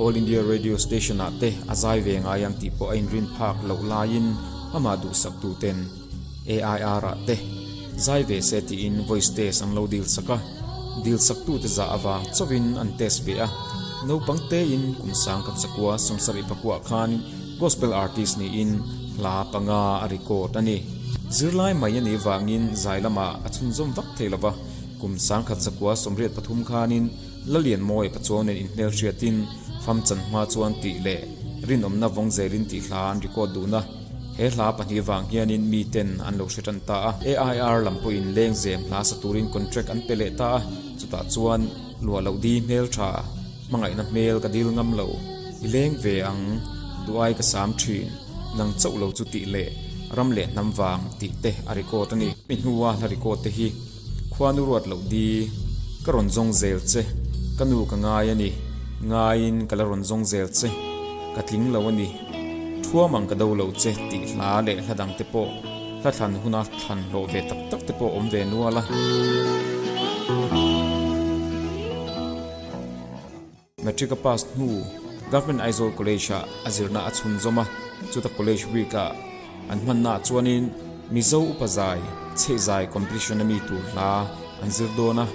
All India Radio Station-ah te a zai ve ngai ang tih pawh a inrinphak loh laiin amah duhsak tuten AIR-ah te zai ve se tiin voice test an lo dil sak a, dil sak tute zah avang chauhin an test ve a. Naupang tein kum sang ka chakua samsarih pakua khan gospel artist niin hla panga a record a ni. Zirlai mai a nih vangin zai lamah a chhunzawm vak thei lo va, kum sang khat chakua sawmriat pathum khanin, Lalianmawi pa chuang nen inhmelhriatin Famchan hma chuan tih leh rinawmna vawng zelin tih hla an record dun a, he hla pahnih vang hianin miten an lo hre tan ta a. AIR lam pawhin leng zem hla sa turin contract an pe leh ta a, chutah chuan luah loh di hmeltha hmangaihna hmel ka dil ngam lo, i leng ve ang, duhai ka sam thin ngang chauh lo chu tih leh ram leh hnam vang tih te a record a ni. Hemi hnua hla record te hi Khua nu ruat loh di, ka rawn zawng zel che. Ka nu ka ngai a ni, ngaiin ka la rawn zawng zel che. Ka tling lo a ni, thuam ang ka do lo che tih hla leh hla dang te pawh, hla thlan huna thlan hlawh ve tak tak te pawh awm ve nual a. Matric a pass hnu Government Aizawl College ah a zirna a chhunzawm a, chuta College Week ah an hmannaah chuanin Mizo upa zai, chheihzai competition a mi tur hla an zir dawn a.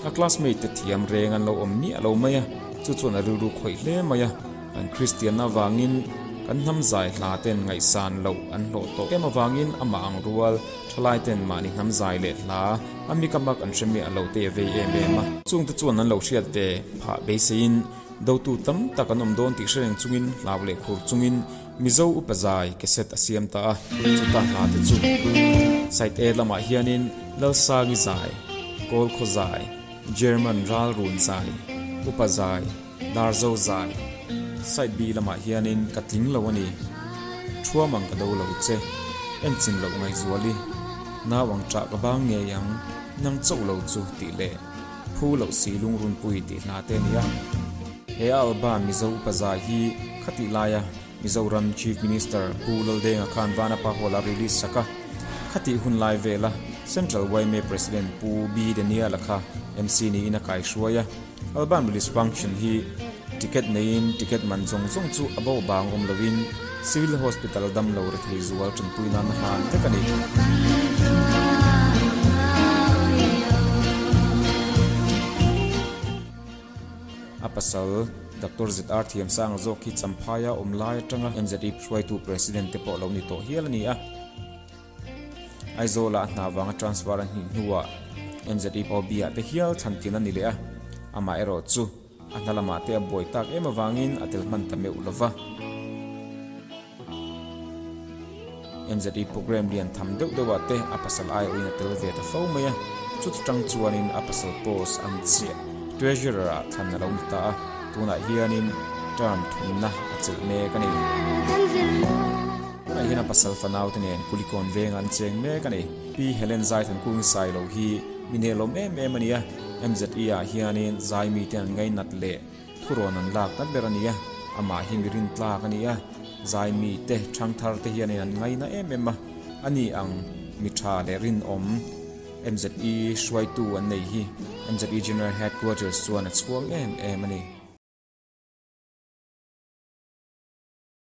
A classmate te thiam reng an lo awm miah lo mai a, chu chuan a rilru khawih hle mai a, kan Kristianna avangin kan hnamzai hla ten ngaihsan loh an hlawh tawh em avangin amah ang rual thalai ten mahni hnamzai leh hla A mika mak an hre mi a lo tei vei em em a. Chungte chuan an lo hriat ve phah beiseiin dotu tam tak an awm dawn tih hre reng chungin hlau leh khur chungin Mizo upa zai cassette a siam ta a. Chuta hla te chu side A lamah hianin Lalsangi zai, Kawlkhaw zai, German ralrun zai, upa zai, Dar zo zan side bi lamah hianin ka tling lo a ni. Thuam ang ka do lo che, en chin loh ngaihzual i, nau ang chah ka bang ngei ang, nang chauh lo chu tih leh phu loh si lungrunpui tih hna te a ni a. He Alban Mizo upa zai hi khatih laia Mizoram Chief Minister Pu Laldeng a khan Vana Pahawla a release sak a. Khatih hun lai vela Central yma President Pu Bidenial a kha MC niin a kaihruai a. Alban Police Function hi ticket neiin ticket man zawng zawng chu a bawh bang awm loin Civil Hospital dam lo rethei zual ṭanpui nan a hlan vek a ni. A pasal Doctor ZR Thiamsanga zawk hi Champhaia awm lai aṭanga NZIP hruaitu President te pawh lo ni tawh hial a ni a. Aizawla a hna vanga transfer a hnih hnuah NZE pawh bia te hial chhan thin a ni leh a, amah erawh chu a hna lamah te a buai tak em avangin a tel hman ta meuh lo va. NZE programme lian tham deuh deuhah te a pasal aiawhin a tel ve ta fo mai a, chuti tang chuanin a pasal post an chiah Treasurer ah thlan a lo ni ta a, tunah hianin term thunna a chelh mek a ni. Tunah hian a pasal fanaute nen kulikawn venga an cheng mek a ni. Pi Helen zai thangkungin sai lo hi mi nehlawm em em a ni a, MZE ah hianin zai mite an ngainat leh thurawn an lak ta ber a ni a, amah hi mi rintlak a ni a, zai mite, thangthar te hianin an ngaina em em a, a ni ang mi tha leh rinawm MZE hruaitu an nei hi MZE General Headquarters chuan a chhuang em em a ni.